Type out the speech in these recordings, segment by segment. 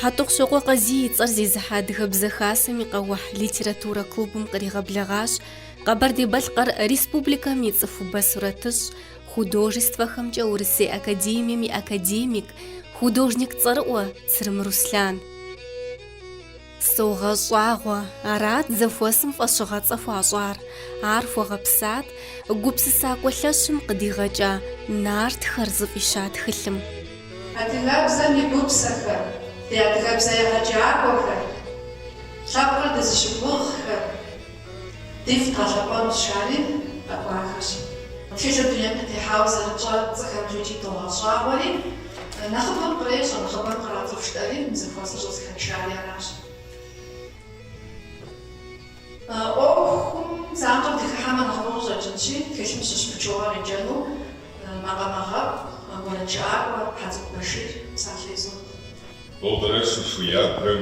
Хьэтӏохъущокъуэ Къазий и цӏэр зезыхьэ Адыгэбзэ Хасэм и къэухь литературэ клубым къригъэблэгъащ Къэбэрдей-Балъкъэр Республикэм и цӏыхубэ сурэтыщӏ, художествэхэмкӏэ Урысей академием и академик, художник цӏэрыӏуэ Цырым Руслъан. Согъэщӏагъуэ, арат зэхуэсым фӏэщыгъэцӏэ хуащӏар, ар хуэгъэпсат гупсысакӏуэ лъэщым къыдигъэкӏа нартхэр зыфӏища тхылъым. Адыгэбзэм и гупсэхэр, ди адыгэбзэ егъэджакӏуэхэр, лъэпкъыр дызыщыгугъхэр. Дифт къэлъэӏуэну щари къэкӏуахэщ. Тхылъыр дунейм къытехьауэ зэрытщӏэ цӏыхэм икӏи догъэщӏагъуэри, нэхъыбэм кърещӏэ, нэхъыбэм кърацӏыху жытӏэри, мы зэхуэсыр щӏызэхэтшари аращ. ӏуэхум занщӏэу дыхыхьэмэ нэхъыфӏу къыщӏэкӏынщи, тхылъым щыщ пычыгъуэ къеджэну макъамэгъэӏу, уэрэджыӏакӏуэ Хьэцӏыкӏу Башир псалъэ изот. Нобэрэ Сухуябрэм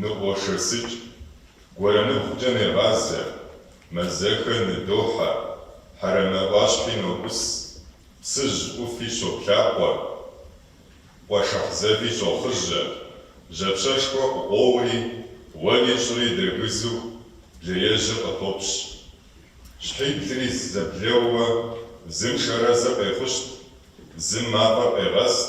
Ныгъуэшэсыкӏ, гуэрэныгукӏэ негъазэ, мазэхэр ныдохьэ, хьэрэмэ ӏуащхьи ноӏус, Псыжь ӏуфи щоплъакъуэ, къуэшыхь зэви щохъыжьэ, жьапщэшхуэ къыкъуоури, уэри щӏыри дэгызу блеежьыр къытопщ. Щхьиблри зэблэууэ зым шэрэзыр къехъущт, зым мафӏэр къегъэст,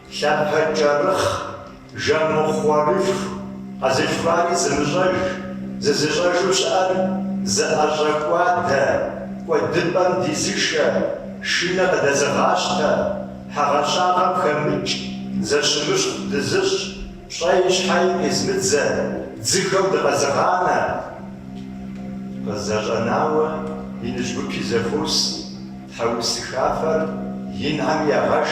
Лъэпэкӏэрыхъ, жэмыхъуэрылъху, къэзылъхуари зымыщӏэж, зызыщӏэжу щыӏэр зыӏэщӏэкӏуадэ, кӏуэдыпӏэм дизышэ, шынэ къыдэзыгъащтэ, хьэгъэщагъэм хэмыкӏ, зэщымыщхъу дызыщӏ, пщӏэи щхьэи къизмыдзэ, дзыхэу дыкъэзыгъанэ. Къызэщӏэнауэ, иныжь гупи зэхуос, тхьэусыхафэр Инхьэм ягъэш.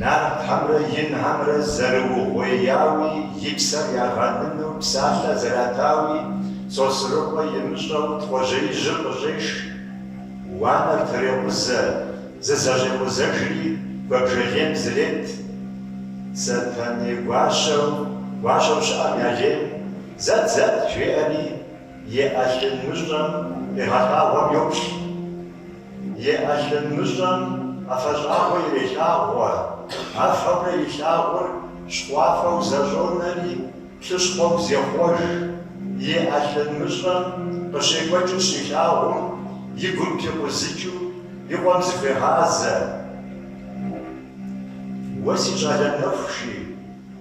Нартхьэмрэ Инхьэмрэ зэрыугъуеяуи, и псэр ягъэныну псалъэ зэратауи, Сосрыкъуэ имыщӏэу Тхъуэжьеижьыр къыщӏеш. Уанэр трекъузэ, зызэщӏекъузэжри, куэбжэлейм зрет. Сэтэней гуащэу, гуащэу щыӏэм я лейм, Зэт, зэт! жеӏэри. И ӏэлъын мыщӏэм къигъэлъагъуэм йоплъ. И ӏэлъын мыщӏэм ӏэфэщӏагъуэ ирелъагъуэ, афэурэ илъагъур щхъуафэу зэщӏонэри, плъыщхъуэу зехъуэж. И ӏэлъын мыщӏэм къыщекӏуэкӏыр щилъагъум, и гум пикъузыкӏыу и къуэм зыхуегъазэ. Уэ си щӏалэ нэху, жи.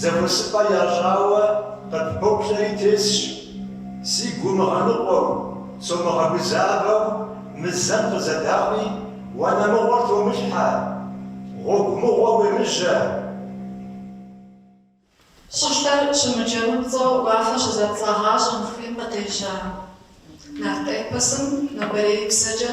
Зэхуэсыпӏэ ящӏауэ къыппоплъэри тесщ, си гу мыгъэныкъуэу, сомыгъэгузавэу мы зэм къызэдаӏуи уанэ мыгъуэр томылъхьэ, гъуэгу мыгъуэ уемыжьэ. Щӏылъэр щымыджэмыпцӏэу уафэ щызэпцӏагъащӏэм хуим къытежьа нарт эпосым нобэрей псэкӏэ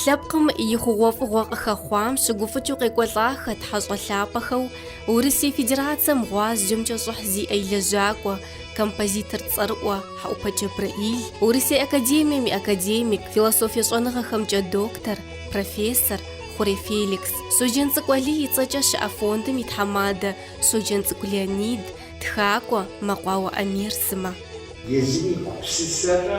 Лъэпкъым и хъугъуэфӏыгъуэ къыхэхъуам щыгуфӏыкӏыу къекӏуэлӏахэт хьэщӏэ лъапӏэхэу Урысей Федерацэм гъуазджэмкӏэ щӏыхь зиӏэ и лэжьакӏуэ, композитор цӏэрыӏуэ Хьэӏупэ Джэбрэӏил, Урысей академием и академик, философие щӏэныгъэхэмкӏэ доктор, профессор Хъурей Феликс, Щоджэнцӏыкӏу Алий и цӏэкӏэ щыӏэ фондым и тхьэмадэ Щоджэнцӏыкӏу Леонид, тхакӏуэ Мэкъуауэ Амир сымэ. Езым и гупсысэрэ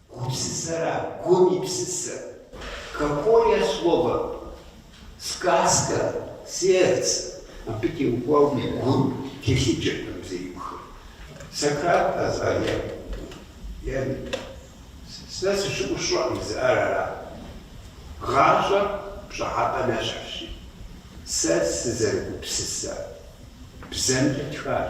Гупсысэра гум и псысэ? Какое слово? Сказка, сердце. Абы теухуауэ гум телъыджэртэм зеиухым. Сократ къэза е сэ сыщыӏэу сщӏэкъым жызыӏэр ара? Гъащӏэр пщӏыхьэпӏэ нэщхьщи, сэ сызэрыгупсысэ бзэмкӏэ тхащ.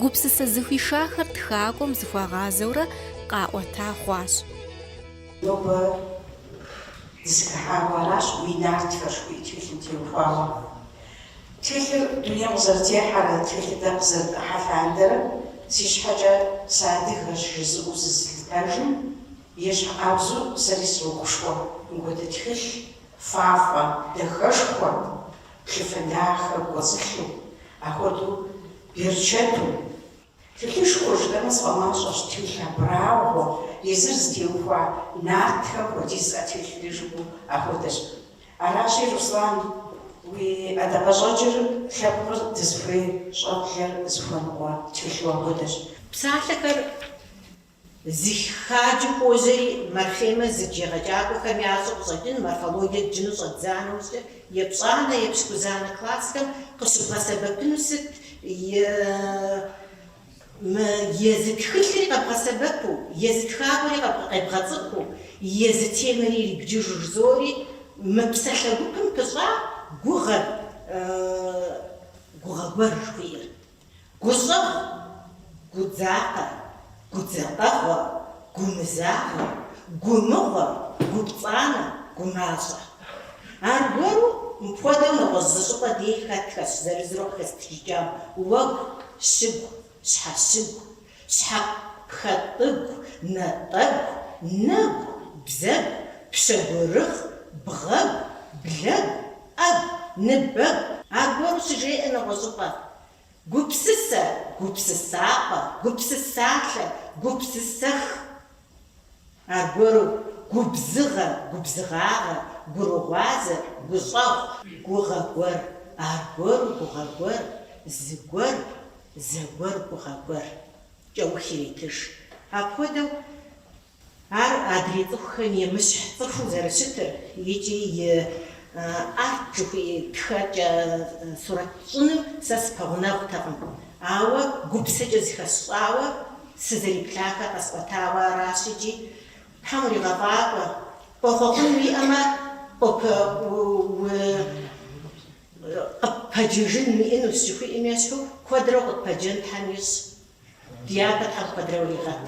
Гупсысэ зыхуишахэр тхакӏуэм зыхуагъазэурэ къаӏуэта хъуащ. Нобэ дызэхыхьауэ аращ уи Нартхэр жыхуиӏэ тхылъым теухуауэ. Тхылъыр дунейм къызэрытехьэрэ тхылъыр дэ къызэрытӏэрыхьэ лъандэрэ си щхьэкӏэ сыадыгэщ жызыӏэу зызылъытэжым ещхьыркъабзэу сэри срогушхуэ. Мыхуэдэ тхылъ, фафӏэ, дахэшхуэ Плъыфэ дахэ кӏуэцӏылъу, ахуэдэу берчэту. Тхылъышхуэ жыпӏэмэ сфӏэмащӏэщ тхылъ абрагъуэ, езыр зытеухуа нартхэм хуэдиз зиӏэ тхылъ жыпӏэу ахуэдэщ. Аращи, Руслан, уи ӏэдакъэщӏэкӏыр лъэпкъыр дызыхуей щӏэблэр зыхуэныкъуэ тхылъу ахуэдэщ. Псалъэхэр Зи хаджи хуожьэри, морфемэ зыдж егъэджакӏуэхэм ящӏэу къыщӏэкӏын морфологие дджыну щӏэддза нэужькӏэ, епщӏанэ, епщыкӏузанэ классхэм къыщыбгъэсэбэпыну сыт езы тхылъри къэбгъэсэбэпу, езы тхакӏуэри къебгъэцӏыхуу, езы темэри ирибджыжу жызоӏэри, мы псалъэ гупым пыщӏа гугъэр, гугъэ гуэр жыхуиӏэр. Гущӏэгъу, гудзакъэ, гудзакъэгъуэ, гумызагъэ, гумыгъуэ, гупцӏанэ, гумащӏэ. Аргуэру мыпхуэдэу нэгъуэщӏ зы щӏыпӏэ дей хэтхэщ, зырызурэ къыхэстхыкӏам, уэгу, щыгу, щхьэщыгу, щхьэпхъэтӏыгу, натӏэгу, нэгу, бзэгу, пщэгурыгъ, бгъэгу, блэгу, ӏэгу, ныбэгу, аргуэру щыжеӏэ нэгъуэщӏыпӏэ, гупсысэ, гупсысапӏэ, гупсысалъэ, гупсысэх. Аргуэру, губзыгъэ, губзыгъагъэ, гурыгъуазэ, гущӏэгъу. Гугъэ гуэр, аргуэру, гугъэ гуэр, зыгуэр, зэгуэр, гугъэ гуэр. Кӏэух иретыж. Апхуэдэу ар адрей цӏыхухэм емыщхь цӏыхуу зэрыщытыр икӏи и арт жыхуи тхэкӏэ сурэт щӏыным сэ сыпэгъунэгъутэкъым, ауэ гупсэкӏэ зыхэсщӏауэ Сызэриплъахэр къэсӏуэтауэ аращ икӏи. Тхьэм уригъэфӏакӏуэ. Къохъуэхъун уиӏэмэ, къыппэджыжын уиӏэнущ жыхуиӏэм ещхьу, куэдрэ къыппэджэн Тхьэм ищӏ. Ди япэ Тхьэм куэдрэ уригъэт.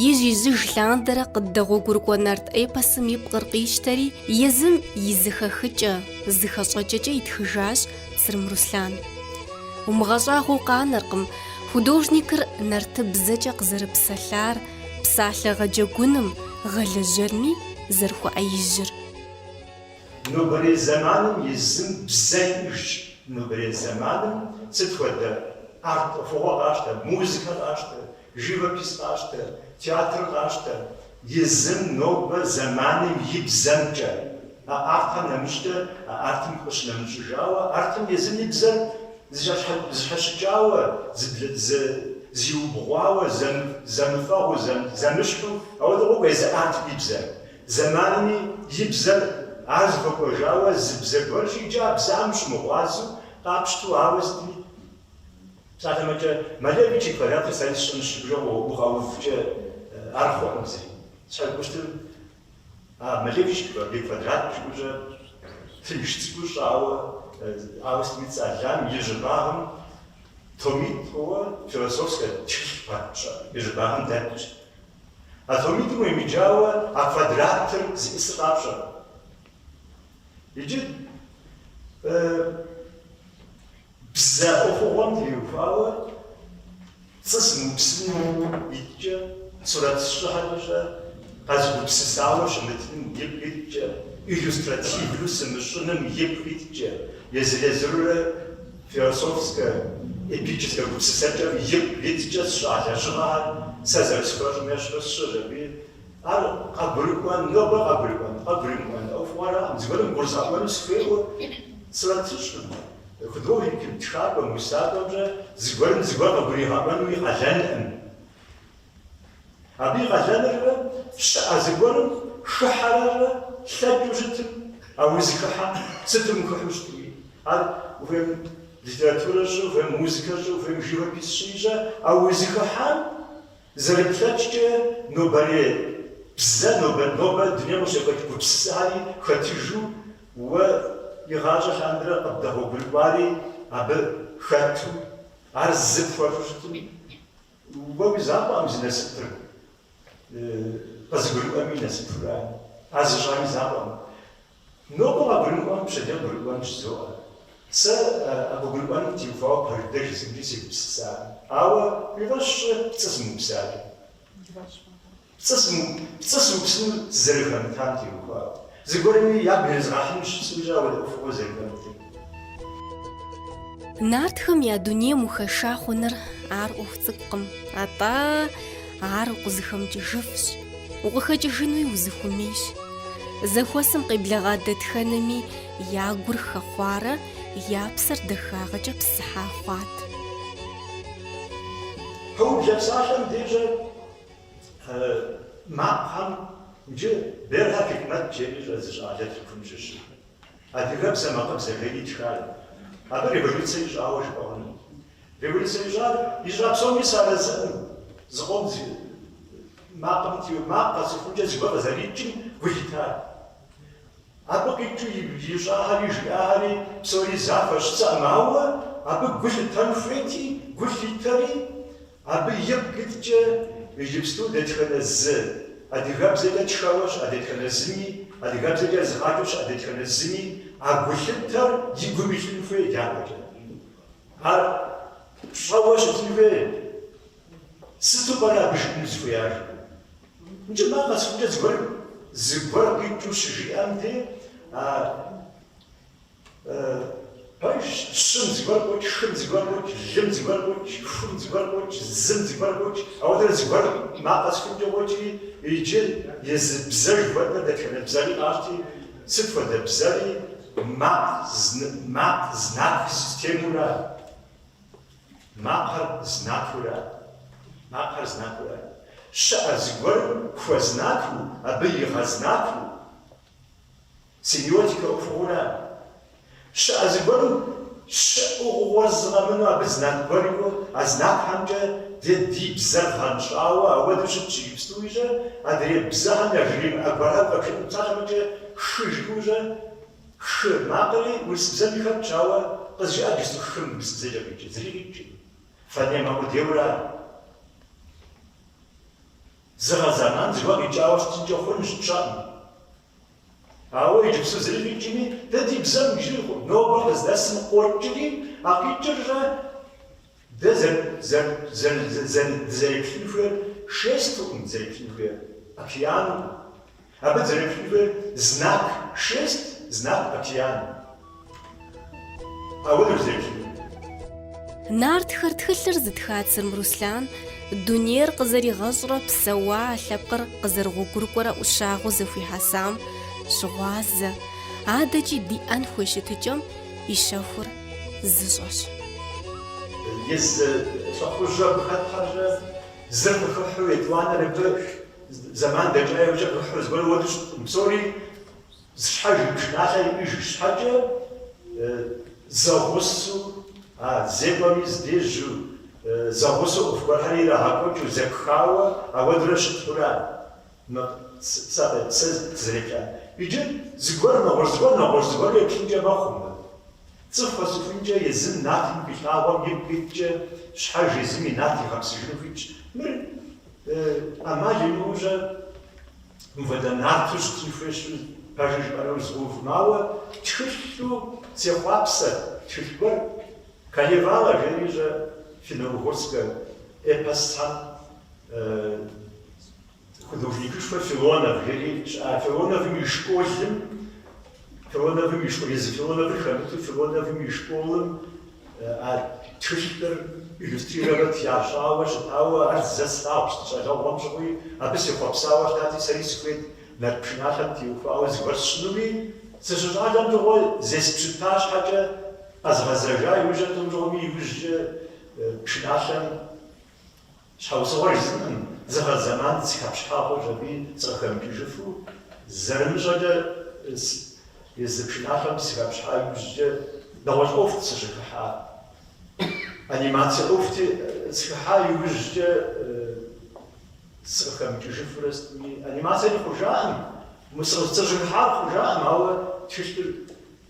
Ижь-ижьыж лъандэрэ къыддэгъуэгурыкӏуэ нарт эпосым и пкъыр къищтэри, езым и зыхэхыкӏэ, зыхэщӏэкӏэкӏэ итхыжащ Сырым Руслъан. Умыгъэщӏагъуэу къанэркъым, художникыр нартыбзэкӏэ къызэрыпсэлъар, псалъэ гъэджэгуным, гъэлэжьэрми зэрыхуэӏэижьыр. Нобэрей зэманым езым бзэ иӏыжщ. Нобэрей зэманым сыт хуэдэ арт ӏуэхугъуэ къащтэ, музыкэ къащтэ, Живопись къащтэ, театр къащтэ. Езым, нобэ, зэманым, и бзэмкӏэ. А артым нэмыщӏкӏэ а артым къыщынэмыщӏыжауэ, артым езым и бзэр зэщхьэщыкӏауэ, зиубгъуауэ, зэмыфэгъуу, зэмыщхьу, ауэдэу къокӏуэ езы артым и бзэр. Зэманми и бзэр, ар зыхуэкӏуэжауэ зы бзэ гуэрщи, иджы а бзэм ущымыгъуазэу, къапщту ауэ сытми. Псалъэм щхьэкӏэ, Малевич и квадратыр сэ сщӏынщ жыпӏэу укъэувкӏэ ар хъуӏым зэи. Щхьэусыгъуэр, а, Малевич и квадрат жыхуаӏэр тынш цӏыкӏуу щӏауэ, ауэ сытми цӏэлам и щӏыбагъым томитӏ хъууэ философскэ тхылъ папщӏэ и щӏыбагъым дэтщ. А томитӏым уемыджауэ а квадратыр зищӏысыр къапщӏэркъым. Иджы, э-э. Бзэ ӏуэхугъуэм теухуауэ пцӏы сымыупсыным ипкъ иткӏэ, сурэт сщӏыхьэкӏэ щӏэ къэзгупсысауэ щымытыным ипкъ иткӏэ, иллюстративу сымыщӏыным ипкъ иткӏэ, езыр-езырурэ философскэ, эпическэ гупсысэкӏэм ипкъ иткӏэ сщӏа лэжьыгъэхэр сэ зэрысхуэщӏым ещхьу сщӏыщ аби. Ар къыбгурыӏуэн, нобэ къыбгурыӏуэн, къыбгурымыӏуэн ӏуэхугъуэракъым, зыгуэрым гурызгъэӏуэну сыхуейуэ сурэт сщӏыркъым. Художникым, тхакӏуэм, усакӏуэмкӏэ зыгуэрым зыгуэр къыгуригъэӏуэнуи къалэнкъым. Абы и къалэныркъэ, щыӏэ зыгуэрым хыхьэрэ лъэкӏыу щытым, а узыхыхьэм сытым ухыхьу щытми, ар ухуейм литературэ щӏы, ухуейм музыкэ щӏы, ухуейм живопись щӏыникӏэ, а узыхыхьэм зэрыплъэкӏкӏэ нобэрей бзэ, нобэ, нобэ дунейм къыщекӏуэкӏ гупсысэхэри хэтыжу, Уэ игъащӏэ лъандэрэ къыбдэгъуэгурыкӏуари абы хэту, ар зы пхуэфу щытым, уэ уи закъуэкъым зи насыпыр къызыгурыӏуэми насыпура, ар зыщӏами закъуэкъым. Нобэ къагурымыӏуэм пщэдей къыгурыӏуэн жызоӏэ. Сэ а къыгурыӏуэнум теухуауэ пэж дыдэ жысӏэмкӏи сегупсысакъым. Ауэ уи фӏэщ щӏы пцӏы зымыупсакӏэ. Пцӏы сымыуп, пцӏы сыупсыну сызэрыхэмытам теухуауэ. Зыгуэрми ягу ирезгъэхьыну жысӏукӏэ ауэдэ ӏуэхугъуэр зэрыхэмытыр. Нартхэм я дунейм ухэша хъуныр ар ӏуэху цӏыкӏукъым, атӏэ ар укъызыхэмыкӏыжыфщ, укъыхэкӏыжынуи узыхуэмейщ. Зэхуэсым къеблэгъа дэтхэнэми я гур хэхъуарэ я псэр дахагъэкӏэ псыхьа хъуат. Пэублэ псалъэм дежьэ Макъхэм иджы Берхъэ Хикмэт жери щыӏэ зы щӏалэ Тыркум щыщу адыгэбзэ макъыбзэ жери итхар. Абы революцэ ищӏауэ жыпӏэ хъуну. Революцэ ищӏар ищӏа псоми сарэзыӏым, зыкъом зи макъым макъ къэсыхункӏэ зыгуэр къызэрикӏым гу лъитар. Абы къикӏыу ищӏахэри жиӏахэри псори захуэщ жысӏэӏым, ауэ абы гу лъытэн хуейти, гу лъитэри, Абы ипкъ иткӏэ иджыпсту дэтхэнэ зы адыгэбзэкӏэ тхэуэ щыӏэ дэтхэнэ зыми, адыгэбзэкӏэ езыгъащӏэу щыӏэ дэтхэнэ зыми а гулъытэр и гум илъын хуей дяпэкӏэ. Ар пщӏэуэ щытын хуей. Сыту пӏэрэ абы жиӏэну зыхуеяр? Мыкӏэ макъ къэсыхукӏэ зыгуэр зыгуэр къикӏыу щыжиӏэм де а Пэжщ, щым зыгуэр къокӏ, хым зыгуэр къокӏ, лым зыгуэр къокӏ, хум зыгуэр къокӏ, зым зыгуэр къокӏ, ауэдэрэ зыгуэр макъ къэсыхункӏэ къокӏри, иджы езы бзэ жыхуэтӏэ дэтхэнэ бзэри къащти, сыт хуэдэ бзэри, макъ зн, макъ знак системура, макъыр знакура, макъыр знакура, щыӏэ зыгуэрым хуэзнаку, абы игъэзнаку, Семиотикэ ӏуэхуура? Щыӏэ зыгуэрым щыӏыгъыгъуэ зыгъэмыну абы знак гуэр иӏэу, а знакхьэмкӏэ дэ ди бзэр гъэнщӏауэ ауэдэу щытщ иджыпстуи жьэ, адрей бзэхэм я жыримыӏэ гуэрау къэбжыӏэн псалъэмэкӏэ хы жыӏыу жьэ, хы макъри урыс бзэми хэтщ, ауэ къызжыӏэ джысту хым урыс бзэкӏэ къикӏи, зыри къикӏыӏым. Фонемэ къудейуэра? Зыгъэ зэман зыгуэр къикӏауэ щытынкӏэ хъунщ тщӏэӏым. Ауэ иджыпсу зыри къикӏми, дэ ди бзэм иджырикъым. Нобэ къыздэсым къокӏри, а къикӏыррэ дэ дызэреплъын хуейр шестукъым, дызэреплъын хуейр океанукъым. Абы дызэреплъын хуейр знак шесть, знак океан. Къэуныр зебж. Нартхэр тхылъыр зытха Црым Руслан дунейр къызэригъэщӏрэ псэуа а лъэпкъыр къызэрыгъуэгурыкӏуэрэ ӏущагъыу зэхуихьэсам щыгъуазэ, адэкӏи диӏэн хуей щытыкӏэм и щэхур зыщӏэщ. Езы лӏыхъужьхэм хэтхьэ жьэ, зыр къыхыхьу етӏуанэр абы зэман дэкӏа иужькӏэ къыхьу зыгуэр уэдыщ, псори. Зы щхьэж и пшыналъэ иӏыж щхьэкӏэ, зэгъусэу, а зекӏуэми здежьэу, зэгъусэу ӏуэху гуэрхэр ирагъэкӏуэкӏыу, зэпхауэ, ауэдурэ щытура мы сэ абы сызэреплъа? Иджы зыгуэр, нэгъуэщӏ зыгуэр, нэгъуэщӏ зыгуэр еплъынкӏэ мэхъу мы. Цӏыху къэсыхункӏэ езым натым хилъагъуэм ипкъ иткӏэ, щхьэж езым и нат игъэпсыжыну хуитщ. Мыр ӏэмал имыӏэу жьэ? Мыуэдэ нарту щытын хуейщ, пэжщ жыпӏэру згъэувӏым, ауэ, тхылъу сехъуапсэ, тхылъ гуэр, Калевала, жери жьэ финно-угорскэ эпосхэм художникышхуэ Филонов жери щыӏа Филоновым и школым, Филоновым и школыр, езы Филоновыр хэмыту Филоновым и школым а тхылъыр иллюстрировать ящӏауэ щытауэ, ар зэ слъагъущ ди щӏалэгъуэм щыгъуи, абы сехъуэпсауэ щытати, сэри сыхуейт нарт пшыналъэм теухуауэ зыгуэр сщӏынуми, сыщыщӏалэм щыгъуэ зеспщыта щхьэкӏэ къэзгъэзэжа иужьрэ тӏум щыгъуэми иужькӏэ пшыналъэм Щхьэусыгъуэ жысӏэным зыгъэ зэман сыхэпщхьа хъуащ, абы сыкъыхэмыкӏыжыфу, зэрымыщӏэкӏэ езы пшыналъэм сыхэпщхьа иужькӏэ нэгъуэщӏ ӏуэхут сыщӏыхыхьар. Анимацэ ӏуэхути схыхьа иужькӏэ сыкъыхэмыкӏыжыфурэ сытми, анимацэри хъужаӏым, мы сэ сыщӏыхыхьар хъужаӏым, ауэ тхылъыр